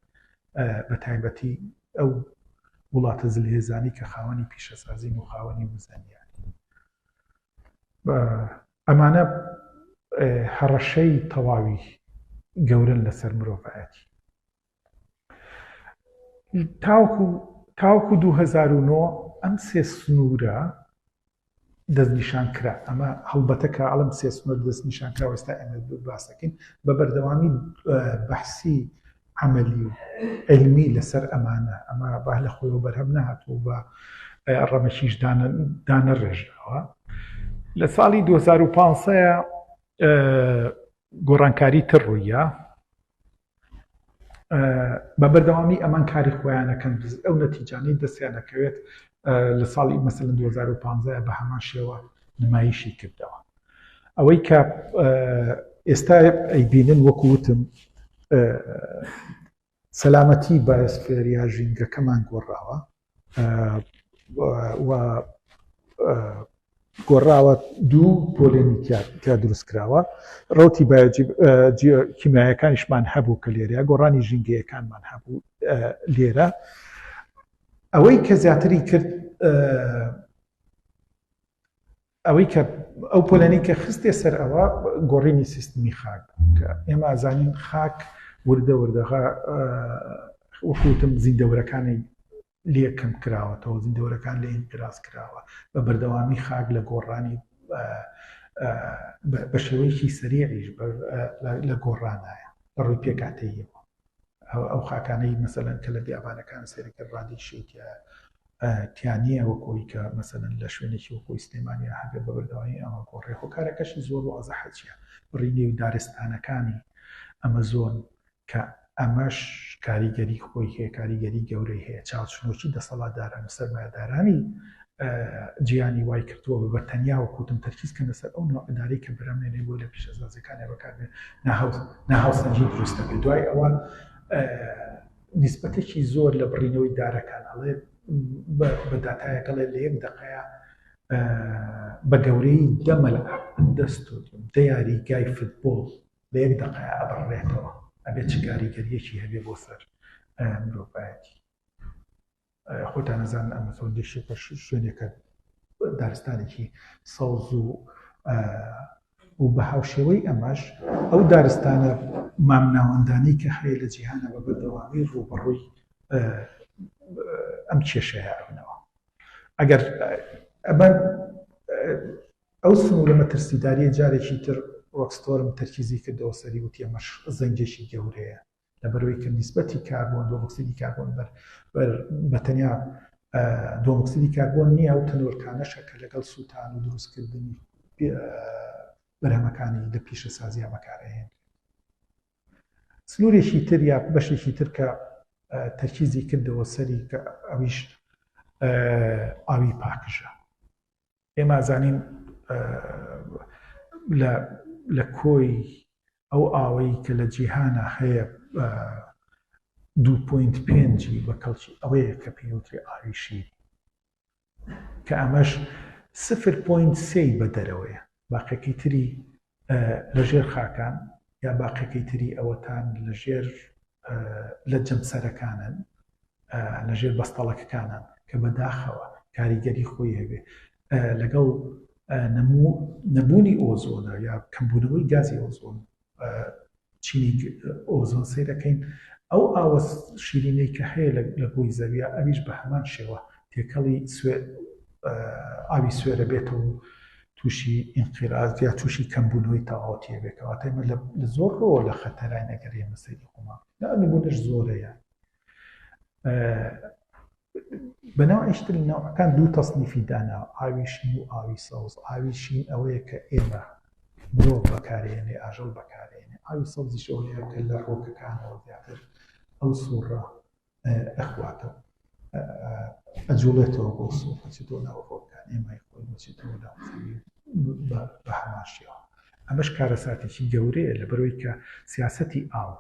بە تایبەتی ئەو وڵاتە زلهێزانی کە خاوەنی پیشەسازین و خاوەنی وزانیان ئەمانە هەڕەشەی تەواوی گەورەن لەسەر مرۆڤایەتی. تاوەکو تاوەکو دوو هەزار و نۆ ئەم سێ سنوورە دەستنیشان کرا ئەمە هەڵبەتە کە ئەڵم سێ سنوور دەستنیشان کرا وەستا ئێمە باسەکەین بە بەردەوامی بەحسی عەمەلی و عیلمی لەسەر ئەمانە، ئەمە با لە خۆیەوە بەرهەم نەهاتوو و بە ڕەمەکیش دانەڕێژراوە. لە ساڵی دوو هەزار و پازدە گۆڕانکاری تر ڕوویە، بە بەردەوامی ئەمان کاری خۆیان ئەکەن، ئەو نەتیجانەی دەستیان ئەکەوێت لە ساڵی مەسەلەن دوو هەزار و پازدە بە هەمان شێوە نمایشی کردەوە. ئەوەی کە ئێستا ئەیبینن وەکو وتم سەلامەتی بایسفێر یا ژینگەکەمان گۆڕاوە گۆڕاوە دوو پۆلێنی تیا دروست کراوە ڕوتی کیمایەکانیشمان هەبوو کە لێرە گۆڕانی ژینگەیەکانمان هەبوو لێرە ئەوەی کە زیاتری کرد ئەوەی کە ئەو پۆلێنەی کە خستیە سەر ئەوە گۆڕینی سیستمی خاک بوو کە ئێمە ئازانین خاک وردە وردەغا وەکوتم زیندەورەکانی لێ کەم کراوەتەوە زیندەورەکان لە ئینقراز کراوە بە بەردەوامی خاک لە گۆڕانی بە شێوەیەکی سەریعیش لە گۆڕانایە بە ڕووی پێکاتەیەوە ئەو خاکانەی مەسەلەن کە لە بیابانەکان سێرەکە ڕادی شێتە تیانە وەکۆی کە مەسەن لە شوێنێکی وەکۆی سلێمانیا هەبێ بە بەردەوایی ئەمە بۆ ڕێخۆکارەکەشی زۆر و ئازە حەچە بڕینی و دارستانەکانی ئەمە زۆن کە ئەمەش کاریگەری خۆی هەیە کاریگەری گەورەی هەیە چاوچنۆکی دەسەڵاتداران و سەرمایدارانی جیانی وای کردووە بە بە تەنیا و کوتم تەرکیز کەنە سەر ئەو نۆع ئەدارەی کە برا مێنەی بۆی لە پیشەسازیەکانیا بەکاربێ ناهاوسەنگی دروست دەبێ دوای ئەوە نیسبەتێکی زۆر لە بڕینەوەی دارەکان ئەڵێ بە داتایەکەڵێ لە یەک دقەیە بە گەورەی دەمەل دەست دیاری گای فتبۆڵ لە یەک دقەیە ئەبڕێتەوە ئەبێت چ کاریگەریەکی هەبێ بۆ سەر مرۆڤایەتی خۆتان ئەزانن ئەم فەوندەیشێکە شوێنێکە دارستانێکی سەوز و و بە هاوشێوەی ئەمەش ئەو دارستانە مامناوەندانی کە هەیە لە جیهانە بە بەردەوامی ڕووبەڕووی ئەم کێشەیە ئەبنەوە ئەگەر ئەمە ئەو سنوورە مەترسیداریە جارێکی تر ڕۆکستۆرم تەرکیزی کردەوە سەری وتی ئەمەش زەنجێکی گەورەیە لەبەرئەوەی کە نیسبەتی کاربۆن دۆمۆکسیدی کاربۆن بەر بەر بەتەنیا دۆمۆکسیدی کاربۆن نییە و تەنۆلکانەشە کە لەگەڵ سووتان و دروستکردنی بەرهەمەکانی لە پیشە سازیا بەکارهێن سنوورێکی تر یا بەشێکی تر کە تەرکیزی کردەوە سەری کە ئەویش ئاوی پاکژە ئێمە زانین لە کۆی ئەو ئاوەی کە لە جیهانە هەیە دوپۆینت پێنجی بە کەڵکی ئەوەیە کە پێوتری ئاوی شیر کە ئەمەش سفر پۆینت سێی بە دەرەوەیە باقەکەی تری لە ژێر خاکان یا باقیەکەی تری ئەوەتان لە ژێر لە جەمسەرەکانن لە ژێر بەستەڵەکەکانن کە بەداخەوە کاریگەری خۆی هەبێ لەگەڵ نەبوونی ئۆزۆنە یا کەمبوونەوەی گازی ئۆزۆن چینێک ئۆزۆن سەیرەکەین ئەو ئاوە شیرینەی کە هەیە لە گۆی زەویا ئەویش بە هەمان شێوە تێکەڵی ئاوی سوێرە بێتەوە و تووشی ئینقیراز یا تووشی کەمبوونەوەی تەواوەتی ئەبێت کەواتە ئێمە لە زۆر ڕۆوە لە خەتەراین ئەگەر ئێمە سەیری خۆمان بکەین ئەم نموونەش زۆرە یان بەناو ئەشتر ناوەکان دوو تەصنیفی دانا ئاوی شین و ئاوی سەوز ئاوی شین ئەوەیە کە ئێمە مرۆڤ بەکارێنێ ئاژەڵ بەکارێنێ ئاوی سەوزیش ئەوەیە کە لە ڕۆکەکانەوە زیاتر ئەو سوڕە ئەخواتەوە ئەجوڵێتەوە بۆ سوڕ بچێتۆ ناو ڕۆکان ئێمای خۆی بچێتەوە ناو بە هەماشیەوە ئەمەش کارەساتێکی گەورەیە لە بەرەوەی کە سیاستی ئاو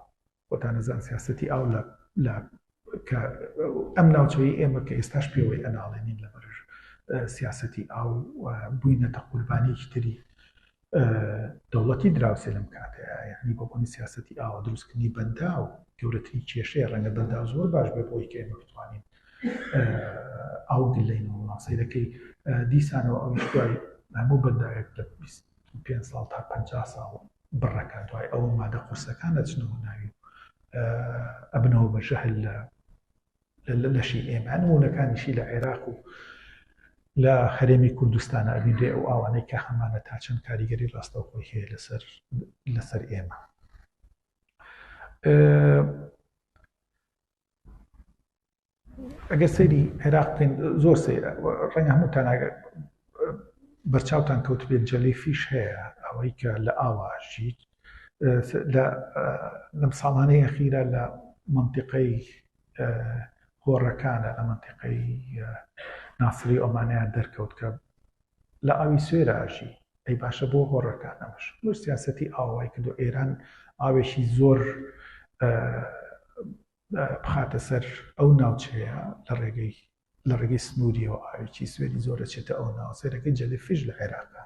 خۆتان ئەزان سیاسەتی ئاو لە لە کە ئەم ناوچەی ئێمە کە ئێستاش پێوەی ئەناڵێنین لە بەرژ سیاسەتی ئاو بووینەتە قوربانیکی تری دەوڵەتی دراوسێ لەم کاتەیە یعنی بۆبوونی سیاسەتی ئاوە دروستکردنی بەندا و گەورەترین کێشەیە ڕەنگە بەندا زۆر باش بێ بۆی کە ئێمە بتوانین ئاو گلەینەوە ماسەیرەکەی دیسانەوە ئەو دوای هەموو بەنداوێک لە پێنج ساڵ تا پەنجا ساڵ بڕەکە دوای ئەوە مادە قورسەکان دەچنەوە ناوی و ئەبنەوە بە ژەهل لە لە لەشی ئێمە نمونونەکانیشی لە عێراق و لە هەرێمی کوردستانە ئەبیدێ ئەو ئاوانەی کە هەمانە تا چەند کاریگەری ڕاستەوخۆی هەیە لەسەر لەسەر ئێمە ئەگەر سەیری عێراق بکەین زۆر سەیرە ڕەنگە هەمووتان بەرچاوتان کەوت بێت جەلی فیش هەیە ئەوەی کە لە ئاواشیت لە لەم ساڵانەی ئەخیرە لە منتیقەی هۆڕەکانە لە منتیقەی ناسری ئۆمانیان دەرکەوت کە لە ئاوی سوێرە ئەژی. ئەی باشە بۆ هۆڕەکان ئەمەش بۆ سیاسەتی ئاو وای کردوە ئێران ئاوێکی زۆر بخاتە سەر ئەو ناوچەیە لە ڕێگەی لە ڕێگەی سنووریەوە ئاوێکی سوێری زۆر دەچێتە ئەو ناو سێرەکەی جەلیفیش لە عێراقا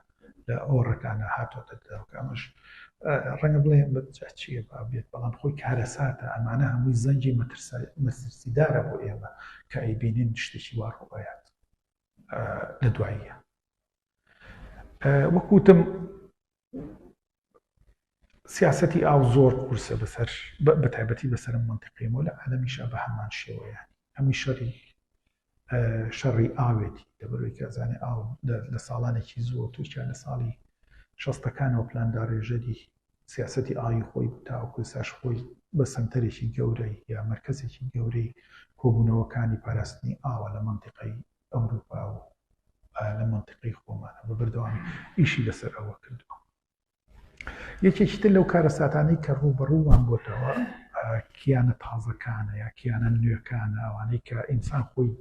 لە ئۆڕەکانە هاتۆتە دەرەوە ئەمەش ڕەنگە بڵێن بە چیە با بێت بەڵام خۆی کارەساتە ئەمانە هەمووی زەنگی مەترسیدارە بۆ ئێمە کە ئەیبینین شتێکی وا ڕوبەیات لە دواییە وەکوتم سیاستی ئاو زۆر قورسە بەسەر بە تایبەتی بەسەر منتیقیمۆ لە عالمیشا بە هەمان شێوەیان هەمی شەڕی شەڕی ئاوێتی دەبەرەوەی کەزانێ ئاو لە ساڵانێکی زۆر تووشیان لە ساڵی شەستەکانەوە پلانداڕێژەری سیاسەتی ئاوی خۆی تاوەکو ئێستاش خۆی بە سەنتەرێکی گەورەی یا مەرکەزێکی گەورەی کۆبوونەوەکانی پاراستنی ئاوە لە مەنتیقەی ئەوروپا و لە مەنتیقەی خۆمانە بە بەردەوامی ئیشی لەسەر ئەوە کردووە یەکێکی تر لەو کارەساتانەی کە ڕووبەڕوومان بۆتەوە کیانە تازەکانە یا کیانە نوێکانە ئەوانەی کە ئینسان خۆی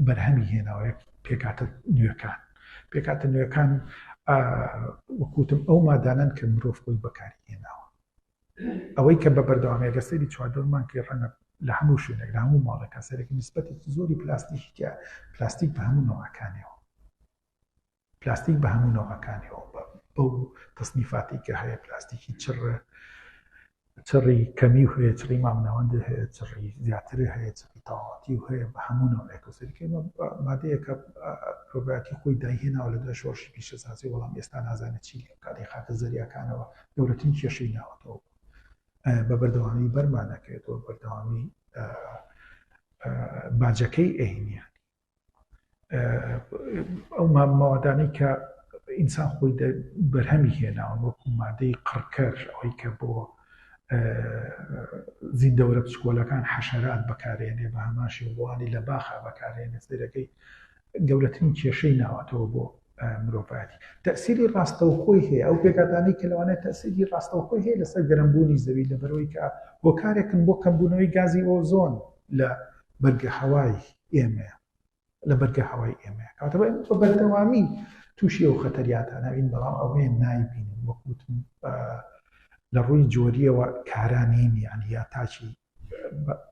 بەرهەمی هێناوەیە پێکاتە نوێکان پێکهاتە نوێکان وەک وتم ئەو مادانەن کە مرۆڤ خۆی بەکاری هێناوە ئەوەی کە بە بەردەوامی گە سەری چواردەورمان کە ڕەنگە لە هەموو شوێنێک لە هەموو ماڵێکە سەرێک نسبەتێکی زۆری پلاستیکە پلاستیک بە هەموو نەوەکانەوە پلاستیک بە هەموو نەوەکانەوە بە بەو تەسنیفاتی کە هەیە پلاستیکی چڕە چڕی کەمی و هەیە، چڕی مامناوەندی هەیە، چڕی زیاتری هەیە، چڕی تەواوەتی و هەیە، بە هەموو ناوێکەوە سەیرکەی ئەمە مادەیەکە پرۆبایۆتیک خۆی دایهێناوە لە دوای شۆڕشی پیشەسازی، بەڵام ئێستا نازانێت چی لێ بکات، لە خاکە زەریاکانەوە گەورەترین کێشەی ناوەتەوە بوو. بە بەردەوامی بەرمان ئەکرێتەوە، بەردەوامی باجەکەی ئەهینیان. ئەو مامەوادانەی کە ئینسان خۆی بەرهەمی هێناون وەکو مادەی قڕکەر ئەوەی کە بۆ زیندەوەرە پسکۆلەکان حەشەرات بەکارێنێ بە هەماشی وڵوانی لە باخا بەکارێنێ سێرەکەی گەورەترین کێشەی ناوەتەوە بۆ مرۆڤاتی تەسیری ڕاستەوخۆی هەیە ئەو پێکاتانی کە لەوانێت تەسیری ڕاستەوخۆی هەیە لەسەر گەرمبوونی زەوی لە بەرەوەی کە هۆکارێکن بۆ کەمبوونەوەی گازی ئۆزۆن لە بەرگە هەوای ئێمەیە لە بەرگە هەوای ئێمەیە کاتەوە ئێمە بە بەردەوامی تووشی ئەو خەتەریاتانەوین بەڵام ئەوەیە نایبینین وەکوتم لە ڕووی جۆریەوە کارانین یعنی یا تاچی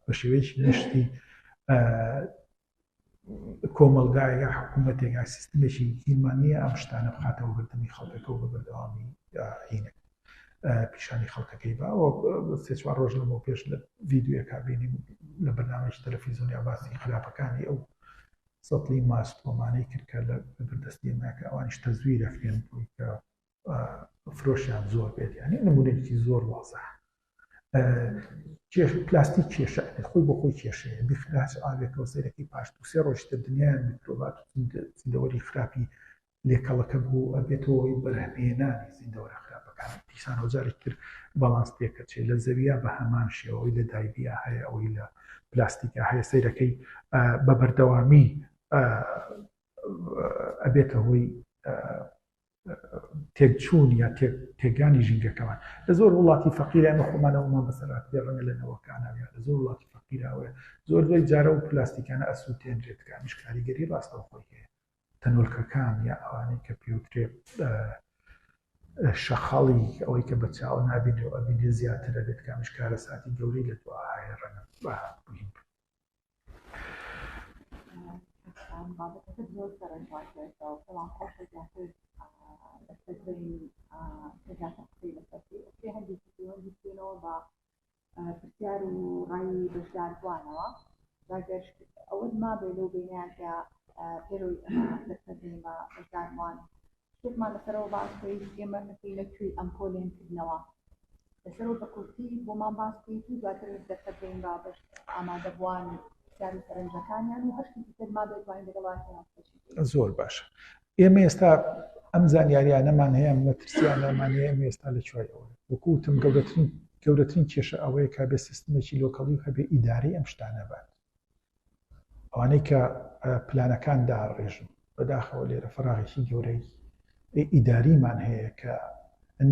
بە شێوەیەکی گشتی کۆمەلگایە حکوومەتێکا سیستمێکی دیمانە ئەم شتانە بخاتەوە بردننی خەڵکەکە و بە بەردەوامی هینەکە پیشانی خەڵکەکەی با و سێ چوار ڕۆژ لەمەو پێش لە ڤیددیوەکە بینی لە بەنامەش تەلەفیزیۆنیا باسی خراپەکانی ئەو سەڵی ماست ومانەی کرد کە لە بەردەستی ماکە ئەوانیش تەزویرەکرێن بووی کە فرۆشیان زۆر بێت یعنی نمونێکی زۆر وازە کێش پلاستی کێشە خۆی بۆ خۆی کێشەیە بخراش ئاوێکەوە سەرەکەی پاش دو سێ ڕۆشتە دنیایان میکرۆبات زیندەوەری خراپی لێکەڵەکە بوو و ئەبێتە هۆی بەرهەمهێنانی زیندەوەرە خراپەکان. دیسانەوە جارێکی تر باڵانس تێکەچێ لە زەویا بە هەمان شێوە ئەوەی لە دایبیا هەیە ئەوەی لە پلاستیکا هەیە سەیرەکەی بە بەردەوامی ئەبێتە هۆی تێکچوون یا تێکانی ژینگەکەمان لە زۆر وڵاتی فەقیرە ئەمە خۆمانەوەمان بەسەرات پێ ڕەنگە لە نەوەکانەوە لە زۆر وڵاتی فەقیراوە زۆر دوای جارە و پلاستیکانە ئەسووتێنرێتکانیش کاریگەری ڕاستەوخۆی هەیە تەنۆلکەکان یا ئەوانەی کە پێوترێ شەقاڵی ئەوەی کە بە چاوە نابینێ و ئەبینێ زیاتر ئەبێت کامیش کارەساتی گەورەی لە دوا هەیە ڕەنگە بهین پرسیار و ڕای بەشداربووانەوە بەگەر ئەوەت مابێ لەو بینیاندا پێرۆی دەسەدەیمە بەشداربووان شتێکمان لەسەرەوە باسکەیت ئێمە ئەەکەی لە کوێی ئەم پۆلێن کردنەوە لەسەرەوە بە کورتی بۆمان باسکەیت و دواتر دەسەدەین بە بەش ئامادەبووانی زۆر باشە ئێمە ئێستا ئەم زانیاریانەمان هەیە مەترسیانەمان هەیە ئێمە ئێستا لە چوای ئەوە وەکوتم گەورەترین گەورەترین کێشە ئەوەیە کا بێ سیستمێکی لۆکەڵی و هەبێ ئیدارەی ئەم شتانە بات ئەوانەی کە پلانەکان داڕێژن بەداخەوە لێرە فراغێکی گەورەی ئیداریمان هەیە کە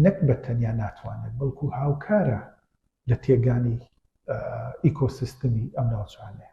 نەک بە تەنیا ناتوانێت بەڵکو هاوکارە لە تێگانی ئیکۆسیستمی ئەم ناوچانەیە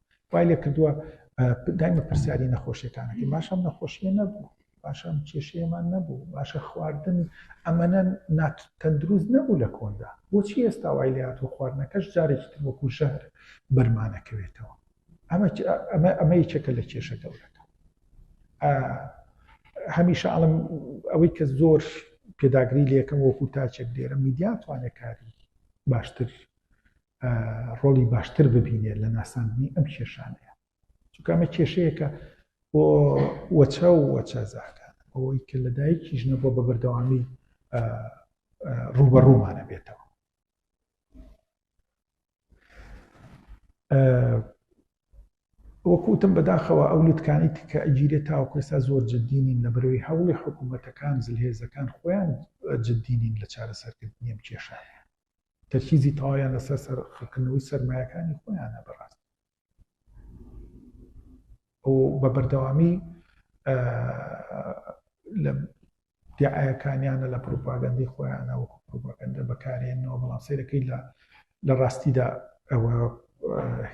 وای لێ کردووە دایمە پرسیاری نەخۆشیەکانەکەی باشە نەخۆشیە نەبوو باشە کێشەیەمان نەبوو باشە خواردن ئەمەە نات تەندروست نەبوو لە کۆندا بۆچی ئێستا وای لات و خواردنەکەش جارێکی تر وەکو ژەهر بەرمانەکەوێتەوە ئەمە ئەمە ئەمە یەکێکە لە کێشە گەورەکە هەمیشە ئەڵم ئەوەی کە زۆر پێداگری لەکەم وەکو تاچێک دێرە میدیاتوانێت کاری باشتر ڕۆڵی باشتر ببینێت لە ناساندنی ئەم کێشانەیە چونکە ئەمە کێشەیەکە بۆ وەچە و وەچە زاکان ئەوەی کە لە دایکی ژنە بۆ بە بەردەوامی ڕوبەڕوومانە بێتەوە وەکوتم بەداخەوە ئەو لوتکانی تکە ئەگیرێ تاوکەسا زۆر جددینین لە بەرەوەی هەوڵی حکوومەتەکان زلهێزەکان خۆیان جددینین لە چارەسەرکردنیم کێشایە تەرکیزی تەواویان لەسەر سەرخکردنەوەی سەرمایەکانی خۆیانە بەڕاست ئەو بە بەردەوامی لە دیعاەکانیانە لە پروپاگەندی خۆیانە وەکو پروپاگەندە بەکارێنەوە بەڵام سیرەکەی لە لە ڕاستیدا ئەوە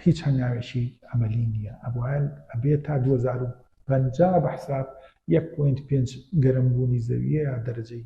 هیچ هەنگاوێکی ئەمەلی نییە ئەبووان ئەبێت تا 2050 بە حساب 1.5 گەرمبوونی زەویە دەرەجەی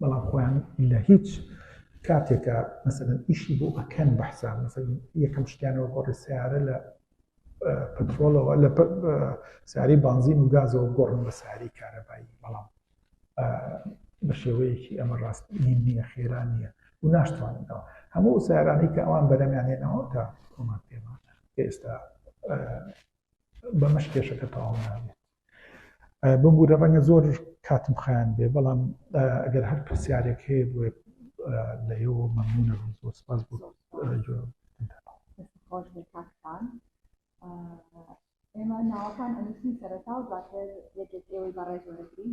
بەڵام خۆیان لە هیچ کاتێکا مەسەلەن ئیشی بۆ ئەکەن بەحساب مەسەلەن یەکەم شتیانەوە گۆڕی سیارە لە پترۆڵەوە لە ساری بانزین و گازەوە گۆڕن بە ساری کارەبایی بەڵام بە شێوەیەکی ئەمە ڕاست نییە خێرا نییە و ناشتواننەوە هەموو سارانی کە ئەوان بەرەمیانێنەوە تا کۆمان پێمان ئێستا بەمەش کێشەکە تەواو نابێت ببورە ڕەنگە زۆر کاتم خایاند بێ بەڵام ئەگەر هەر پرسیارێک هەیە بۆ لە ئێوە مەمنونە زۆر سپاس بۆ ئێمە ناوەکان ئەنووسین سەرەتا و دواتر یەکێک ئێوەی بەڕێز وەرەگرین